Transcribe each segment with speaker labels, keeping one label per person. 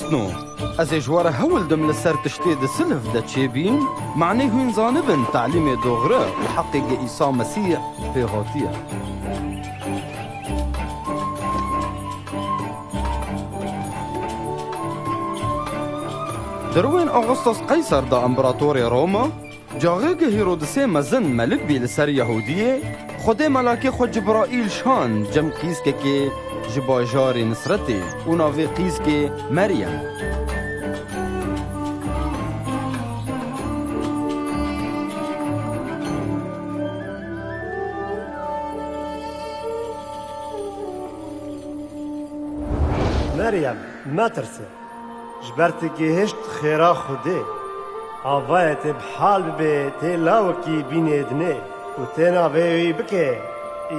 Speaker 1: No, ez ê ji we re hewl dim li ser tiştê di silv de çêbîn, manê hûn zanibin telîmê doxre û heqê ge Îsa Mesîh pê hatiye. Di rûyên Augustus Qeyser de, Împeratorê Roma, Carê ku Hîrodisê mezin melik bî li ser Yahûdiyê, Xwedê melakê xwe Cibraîl şand cem qîskekê ji bajarê Nisretê û navê qîskê Meryem e. Meryem, metirse,
Speaker 2: Ji ber tu gihişt xêra Xwedê. Avayê te bi hal bibe tê lawikî bînê dinê û têna vê wî bike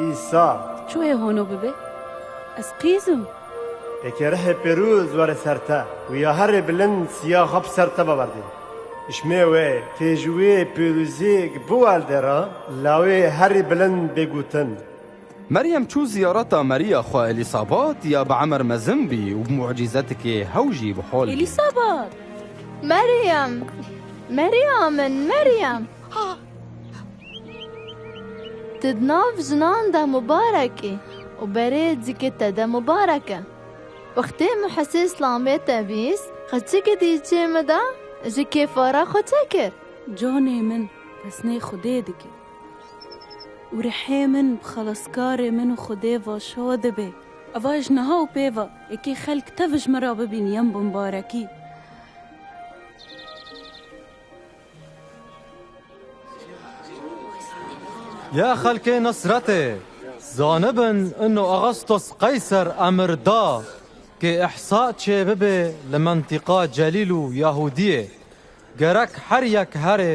Speaker 2: Îsa. Çû hê hono
Speaker 3: bibe? Ez qîz im. Eke
Speaker 2: rihê pêrûz were ser te û ya herê bilind siyaxa bi ser te biberdê. Hişmê wê tê ji wê pêrûzê gibiwelde re lawê herê bilind bê gotin. Meryem
Speaker 1: çû ziyareta Meriya xwe Elîsabat ya bi emer mezin bî û bi mucîzetikê hew jî bi hol bî. Elîsabat!
Speaker 3: Meryem!
Speaker 4: Meriya min, Meryem! Tu di nav jinan de mubarek î û berê dikê te de mubarek e. Wextê min Hesê Îslamê te bîst, xeçikê di îçê min de ji kêfa re xwe çekir. Canê min,
Speaker 3: pesnê Xwedê dike. Û rihê min bi xelaskarê min û Xwedê ve şad be. Eva ji niha û pê ve yekê xelk tev ji min re bibîn yên bi mibarekî.
Speaker 5: Ya xelkê Nesretê, zanibin ino Agastos Qeyser emir da ke îhsa çê bibe li mentiqa Celîl û Yahûdiyê. Gerek her yek herê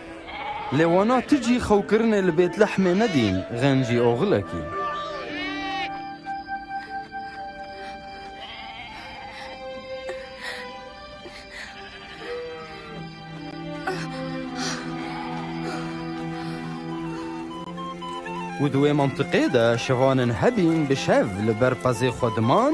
Speaker 1: Lê wana tu jî xewkirinê li Bêtlehmê nedîn, Xencî Oxilekî. Û di wê mintiqê de şivanên hebîn bi şev li ber qezê xwe diman,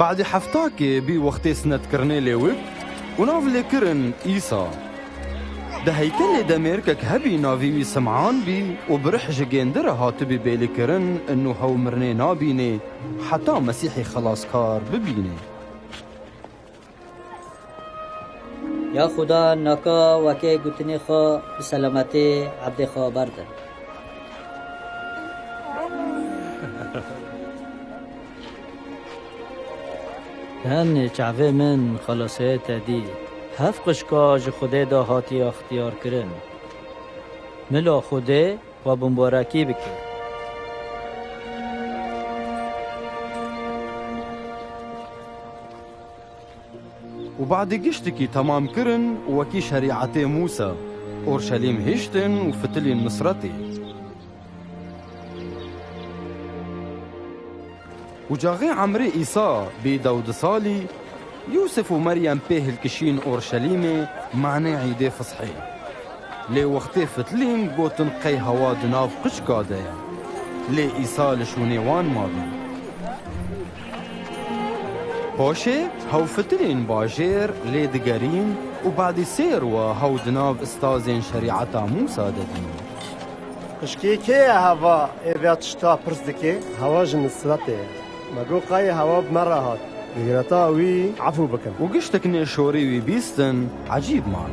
Speaker 1: Badê heftakê bî wextê sinetkirinê lê wib û nav lê kirin Îsa. Di heykelê de mêrikek hebî navî wî Sim'an bî û bi rih ji gêndi re hatibî bêlî kirin inû hew mirinê nabînê heta Mesîhî Xelaskar bibînê.
Speaker 6: Ya xuda naka wekê gutinê xwe bi selametê ebdê xwe berde. Tenê çavê min xelaseye te dî. Hev qişka ji xudê de hatiye xtiyarkirin. Mila xudê xwe bimbarekî bike.
Speaker 1: Û badê giştikî temam kirin û wekî şerîetê Mûsa, Orşelîm hiştin û fitilîn Misretê. Û caxê emrê Îsa bî dew di salî, Yûsif û Meryem pê hilkişîn Orşelîmê manê Îdê Fisxê. Lê wextê fitilîn gotin qey hewa di nav qiçka de ye. Lê Îsa li şûnê wan mabî. Paşê hewfitirên bajêr lê digerîn û badî sêr wa hew di nav istazên şerîeta Mûsa de dîn. Xişkê
Speaker 2: kê ye heva ê vê tişta pirs dike? Hewa ji Nisretê ye. Me got qayê hewa bi me re hat. Di gireta wî efû bikin. Û giştek nêşorî
Speaker 1: wî bîstin ecîb man.